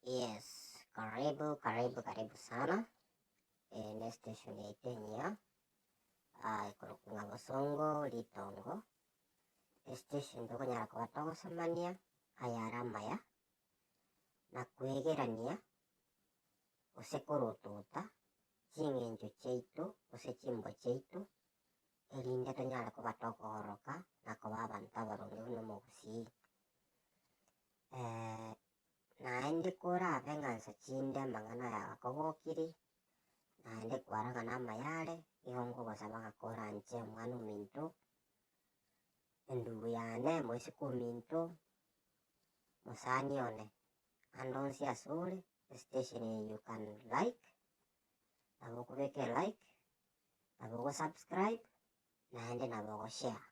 Yes, karibu karibu karibu sana eh, ne station yaito enyia ah, ikorokwa ng'a bosongo ritongo estation tokonyara koba togosemania aya are amaya na kwegerania gose korotota ching'encho chiaito gose chimbo chiaito erinde tonyare kobata okooroka na koba abanto abaronge buna omogusii. Naende korabe ng'a nsa chinde amang'ana aya agakogokiri, naende kware ng'a namaya are, nigo nkogosaba ng'a koranche Omwana-o-ominto, endubu yane, moiseke ominto, mosani one, ande onsi asore, esitesheni eye you can like. nabo okobeka elike, nabo ogosubscribe, naende nabo ogoshare,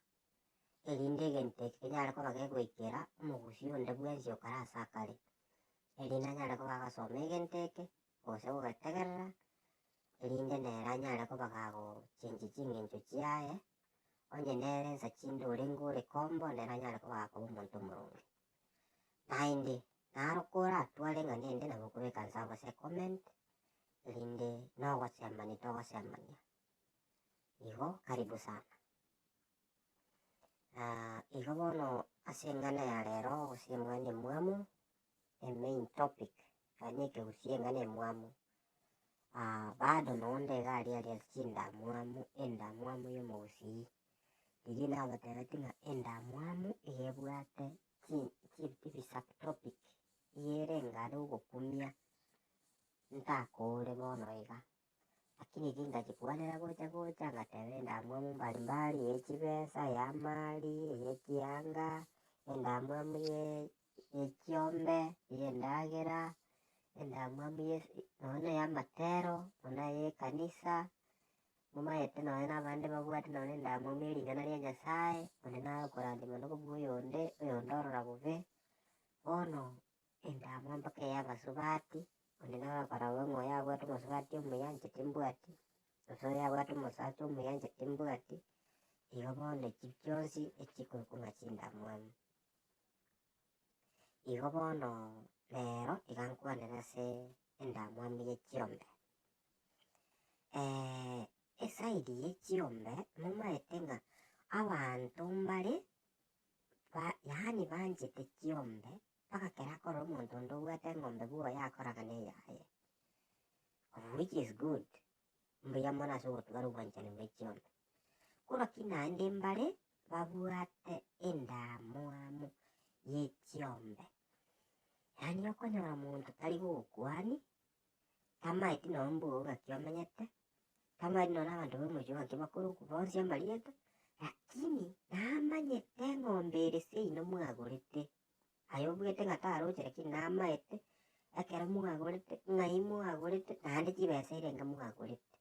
erinde egento eke kenyare koba kegoikera omogusii onde bwensi okare ase akare, erinde anyare koba agasoma egento eke, gose ogogetegerera, erinde nere anyare koba gagochenchia chingencho chiaye, onye nere ensa chinde orenge ore kombo, nere anyare koba akoba omonto omoronge. naende narokora tware ng'a nende nabo kobeka nse amo ase comment erinde nogosemani togosemania igo karibu sana. igo bono ase eng'ana ya rero gose eng'ana ya omwamu emain topic yaani ekegusii eng'ana ya omwamu. Bado mogondo iga aria aria ase chindamwamu, endamwamu ya omogusii. Riria nabateebeti ng'a endamwamu iga ebwate chi- chi- ebi subtopic iga erenge are ogokumia ntakoore bono iga. Lakini erio ndachikwanera gocha gocha ngateba endamwamu mbari mbari ya echibesa, ya amaari, ya ekianga, endamwamu ya y'echiombe y'endagera, endamwamu ye nonya na ey'amatero, nonya na ey'ekanisa, momaete nonya nabande babwate nonya na endamwamu ye ring'ana ria Nyasae, onde naye okorandia monda kobua oyonde, oyonde orora bobe. Bono endamwamu mpaka ey'abasubati, onde naye ogokora bobe ng'a oyo abwate omosubati omuya inche timbwati, gose oyo abwate omosacha omuya inche timbwati, igo bono echi chionsi echikorokwa ng'a chindamwamu. Igo bono rero iga nkwanera ase endamwamu ye chiombe. eside ye chiombe momaete ng'a abanto mbare ba yaani banchete chiombe mpaka ekero akore omonto onde obwate eng'ombe bwoye akoragane eyaye, of which is good. mbuya mono ase ogotugana obwanchani bwaye chionsi. Korwa ki naende mbare babwate endamwamu ye chiombe. Yaani okonyora omonto tari gogokuani, tamaeti noo mbuya ogaki omenyete, tamaeti noo nabanto bomochie ogo gaki bakorokwa bonsi amarieta, lakini namanyete eng'ombe ere seino mwagorete. aye obwete ng'a tarochere ki, namaete ekero mwagorete, ng'ai mwagorete, naende chibesa eirenge mwagorete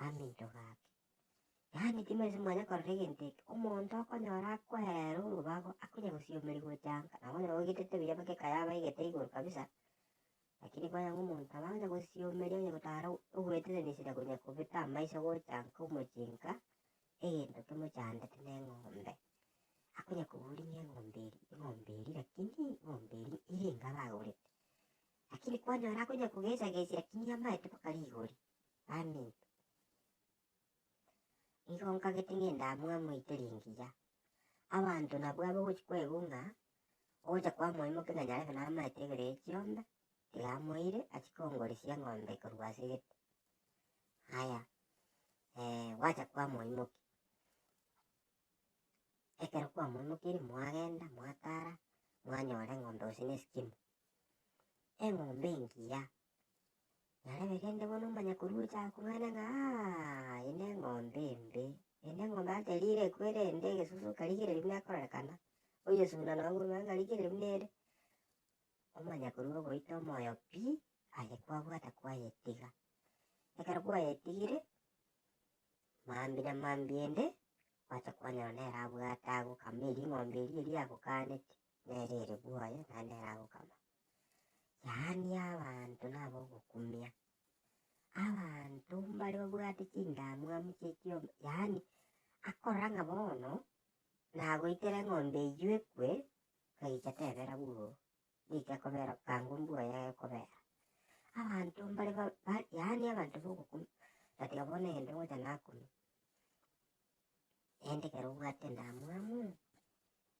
aminto gake. Yaani timorase mwanya korora egento eke, omonto okonyora akoereire orobago, akonya gosiomeri gocha anga, nabo okonyora ogetete buya mpaka ekaye abaegete igoro kabisa. Lakini konya ng'omonto abange gosieomeria onye gotara ogwetereneseria konya kobeta amaiso gocha nkomochinka egento kimochandete na eng'ombe, akonya koboria ng'a eng'ombe eria eng'ombe eria lakini eng'ombe eria ere enga abagorete. Lakini kwanyora akonya kogesagesia lakini amaete mpaka rigori baminto. Igo nkagete ngende abwo amoite ringiya, abanto nabwo abwo ogochi kwebunga, ogocha kwamoimokia ng'a nyarebe namaete ibere ya chiombe, tiga amoire achie kongorisia eng'ombe korwa ase egete. Aya gwacha kwamoimokia, ekero kwamoimokirie mwagenda mwatara mwanyora eng'ombe gose ne esikimo, eng'ombe engiya Narebe kende bono omanye korurucha akong'aine ng'a eye neng'ombe embe, eye neng'ombe aterire ekwere ende egesusu karigereria buna ekorerekana, oyesunda nonye korwa anga karigereria buna ere, omanye korwa ogoita omoyo pi, aye kwabwate kwayetiga. Ekero kwayetigire, mambia na mambia ende, gwacha kwanyora nere abwate agokama eria eng'ombe eria eria agokaneti. nere ere bwoye naende ere agokama. Yaani abanto nabogokumia, abanto mbare babwate chindamwamu chi'ekiombe, yaani akorora ng'a bono nagoitera eng'ombe eywo ekwe, akayicha tebera bwogo, nigo ekobera bwango mbwoye egokobera. Abanto mbare ba- ba yaani abanto bogokumia, natiga bono egento ngocha nakumie. Erinde ekero obwate endamwamu,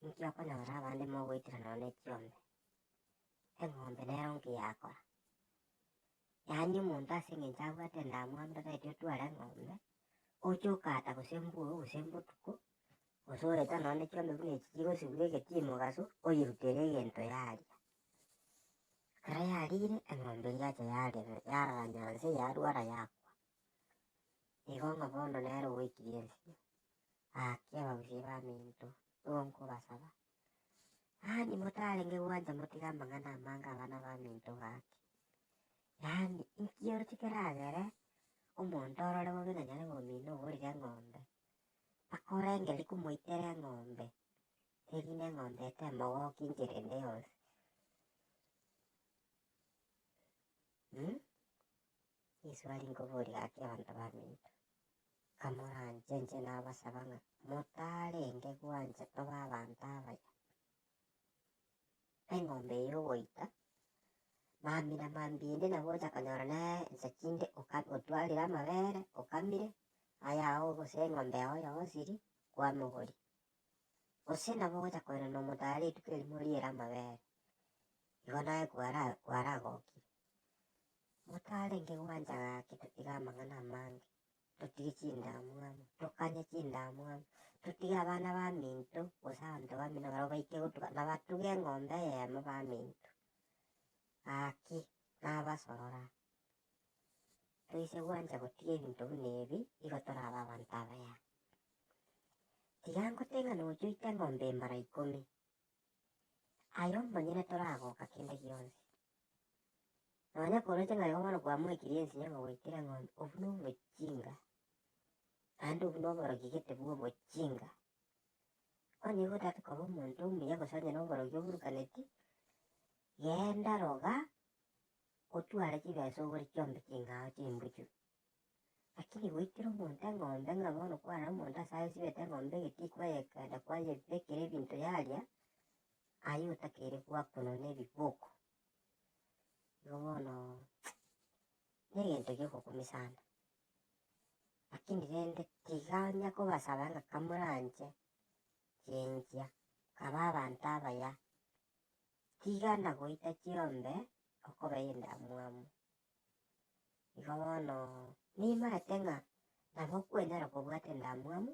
inki okonyora abande mogoitera nonya ne chiombe? Eng'ombe nero inki yakora? Yaani omonto ase eng'encho abwate endamwamu tataeti otware eng'ombe oche okaata gose embwogo gose embotuko gose oreta nonya ne chiombe buna echi chigosibwa egeti mogaso oyerutere egento yaria. Ekero yarire eng'ombe eria yacha yarera yarara nyanse yarwara yakwa. Igo ng'a bono nere ogoikiriansigwa ake abagusie baminto, nigo nkobasaba, yaani motarenge gwancha motige amang'ana amange abana baminto gaki, yaani inki oroche keragere omonto orore bobe ng'a nyare komina ogorire eng'ombe, mpaka orenge ri komoitera eng'ombe, erinde eng'ombe etemogokia enchera ende yonsi. Yeso aria nkoboria gaki abanto baminto, Kamoranche, inche nabasaba ng'a motarenge gwancha tobe abanto abaya. Eng'ombe eye ogoita, mamina mambia ende nabo ogocha konyora nere inse chinde oka- otwarire amabere, okamire, ayao gose eng'ombe yao yosiri, kwamogoria. gose nabo ogocha koirana nomonto are rituko erimo riire amabere, igo naye kwara kwaragokia. Motarenge gwancha gaki totige amang'ana amange, totige chindamwamu, tokanye chindamwamu, totige abana baminto gose abanto baminto barabwo baike gotuga na batuge eng'ombe eyemo baminto. Gaki nabasorora. toise gwancha gotiga ebinto buna ebi, igo torabe abanto abaya. Tiga ngote ng'a nocha oite eng'ombe embara ikomi, aye omonyene toragoka kende gionsi. Nonya koroche ng'a igo bono kwamoekirie ensinyo ng'a gwaikire eng'ombe, obwo na obochinga, naende obwo na oborogi gete bwa obochinga. Bono igo otagete koba omonto omuya gose onye na oborogi oburukaneti, genda roga. Ngotware chibesa ogore chionsi chingao chimbuchu. Lakini goitera omonto eng'ombe ng'a bono kwarora omonto ase agesibete eng'ombe egetii kwayekenda kwayebekera ebinto yaria, aye otakeire gwakorwa na ebiboko. Igo bono na egento giogokumia sana, lakini rende tiga onya kobasaba ng'a kamoranche chinchia, kaba abanto abaya. Tiga na goita chiombe okobe endamwamu. Igo bono nimaete ng'a nabo okwenyara kobwata endamwamu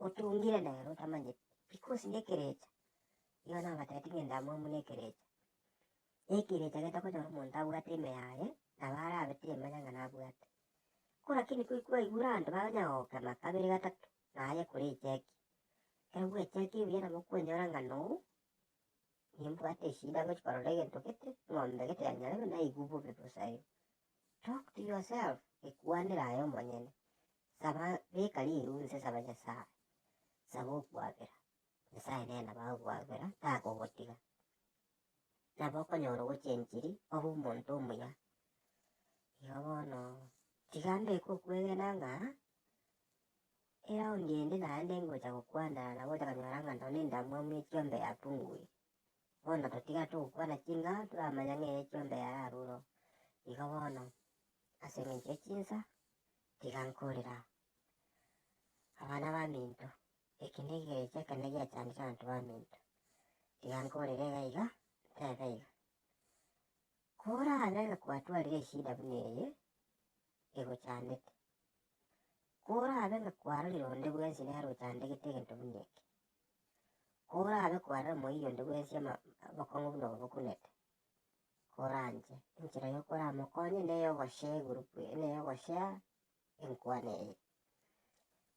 otungire nere otamanyeti, because nekerecha. Igo nabatebitie ng'a endamwamu nekerecha, na ekerecha getagonyora omonto abwate ime yaye, nabo arabe temanya ng'a nabwate. Ko lakini ko kwaigure abanto banya gokema kabere gatato, naye ekore echeki. Ekero bwechekire buya nabo okonyora ng'a noo. nimbwate eshida ngochia korora egento gete eng'ombe gete yanyarerwa naigwa obobe bosa aye, talk to yourself ekwanera aye omonyene, saba beka rirunse saba nyasaye, saba okwabera, nyasaye nere nabo agokwabera takogotiga, nabo okonyora ogochia enchiri obe omonto omuya. Igo bono tiga mbeke okwegena ng'a. Era onde inde naende ngocha gokwana nabo otaganyora ng'a nonya endamwamu ye chiombe yapunguire. Bono totiga togokwana ching'ao toramanya ng'eria echiombe yaye aroro. Igo bono, ase engencho ye chinsa, tiga nkorera abana baminto, eke nekerecha ekene giachandire abanto baminto. Tiga nkorere iga iga, ntebe iga, korabe ng'a kwatwarire eshida buna eye egochandete. Korabe ng'a kwarorire onde bwensi nere ochandegete egento buna eke. Korabe kwarora moyio onde bwensi ama- obokong'u buna obo bokunete, koranche. Enchera y'okoramokonye neye ogoshare egroup eye, neye ogoshare enkwana eye.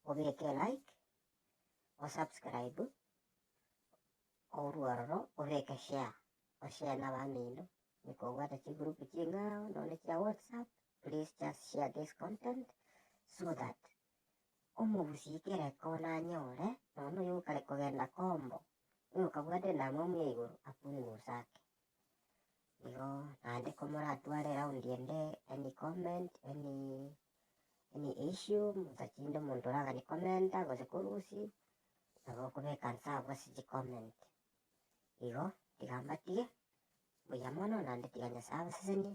Obeke elike, osubscribe, orwe ororo obeke share, oshare nabamino, ekobwata chigroup ching'ao, nonye chia whatsapp, Please just share this content so that omogusii kere kona anyore nonya oyio okare kogenda kombo oyo okabwate endamwamu ya igoro apunguse ake. Igo naende komoratware round ende any comment any any issue motachinde omonto oragani commenta gose korusia nabo okobeka inse abwo ase chi comment. Igo tiga mbatige buya mono naende tiga Nyasae abasesenie